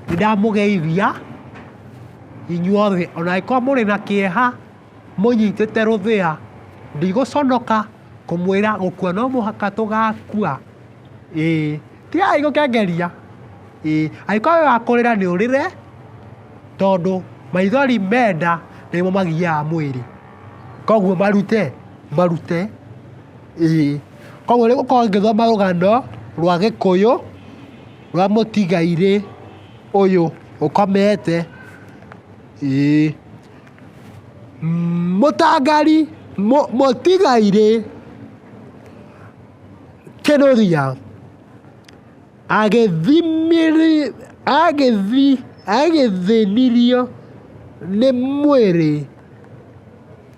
Nĩndamũgeithia inyuothe ona angĩkorwo mũrĩ na kĩeha mũnyitĩte rũthĩa, ndigũconoka kũmwĩra gũkua no mũhaka tũgakua, ĩĩ. Tigai gũkengeria, ĩĩ. Angĩkorwo wĩ wa kũrĩra nĩ ũrĩre, tondũ maithori me nda nĩmo magiaga mwĩrĩ. Koguo marute, marute, ĩĩ. Koguo nĩngũkorwo ngĩthoma rũgano rwa gĩkũyũ. Wa mũtigairĩ ũyũ ũkomete, ĩĩ. Mũtangari, mũtigairĩ kĩrũgĩa agĩthĩnirio nĩ mwĩrĩ,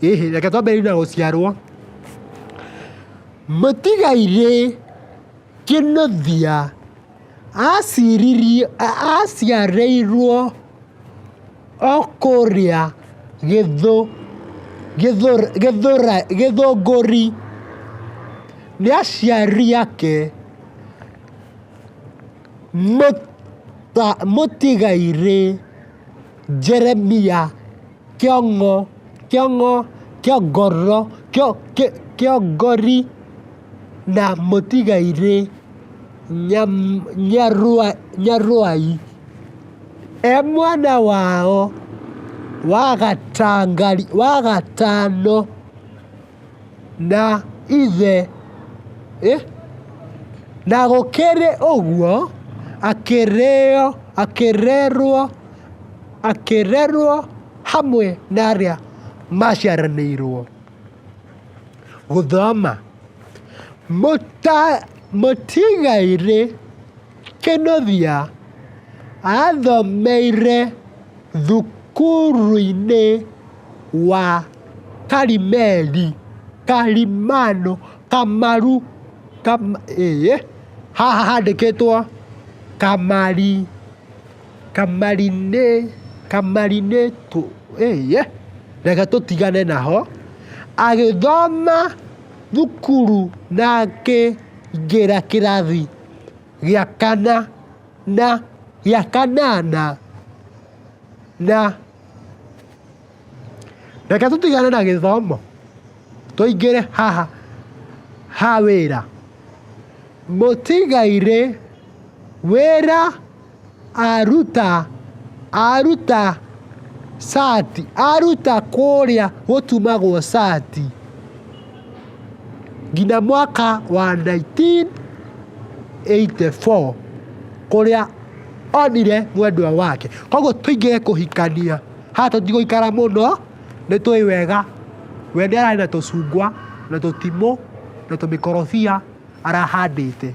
ĩ hĩ, reke twambĩrĩrie na gũciarwo. Mũtigairĩ. Kinuthia aciririe aciarĩirwo o kũrĩa gĩthũ gĩthũ gĩthũrai gĩthũngũri. Nĩ aciari ake mũtigairĩ Jeremia Kĩong'o Kĩong'o Kĩongoro Kĩongori. na mũtigairĩ Nyarũai, e mwana wao wa gatano na ithe, na gũkĩrĩ ũguo akĩrerwo hamwe na arĩa maciaranĩirwo. gũthoma. Mũtigairĩ Kĩnũthia athomeire thukuru-inĩ wa Karimeli, Karimani, Kamaru, haha handĩkĩtwo Kamari. Reke tũtigane na ho. Agĩthoma thukuru na akĩingĩra kĩrathi gĩa kana na gĩa kanana na. Reke tũtigane na gĩthomo tũingĩre haha ha wĩra. Mũtigairĩ wĩra. Aruta, aruta cati, aruta kũrĩa gũtumagwo cati, nginya mwaka wa nineteen eighty four, kũrĩa onire mwendwa wake. Koguo tũingĩre kũhikania, haha tũtigũikara mũno, nĩ tũĩ wega, we nĩ ararĩ na tũcungwa, na tũtimũ, na tũmĩkorobia arahandĩte.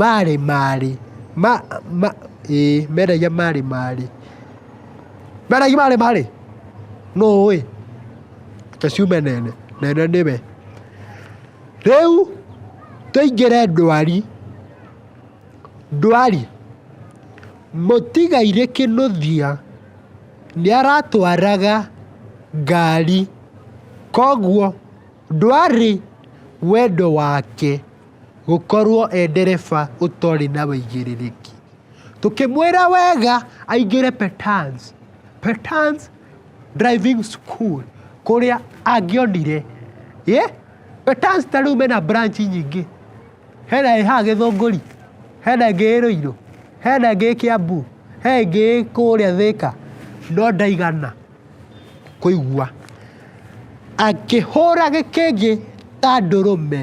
Marĩ marĩ ma ma ĩĩ mendagia marĩ marĩ mendagia marĩ marĩ nũ ũĩ? Reke ciume nene nene nĩwe. Rĩu tũingĩre ndwari, ndwari, mũtigairĩ kĩnũthia nĩaratwaraga ngari, koguo ndwarĩ wendo wake. Gũkorwo e ndereba ũtarĩ na wĩigĩrĩrĩki. Tũkĩmwĩra wega aingĩre Petans, Petans driving school, kũrĩa angĩonire, ĩ, Petans ta rĩu mena branch nyingĩ, hena ĩ haha Gĩthũngũri, hena ĩngĩ ĩ Rũirũ, hena ĩngĩ ĩ Kĩambu, he ĩngĩ ĩ kũrĩa Thĩka, no ndaigana kũigua. Akĩhũra gĩkĩngĩ ta ndũrũme.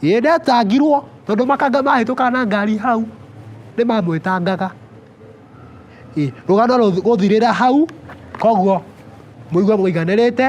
Ĩĩ ndetangirwo tondũ makanga mahĩtũkaga na ngari hau nĩmamwetangaga. Rũgano rũthirĩra hau, koguo mũigue mũiganĩrĩte.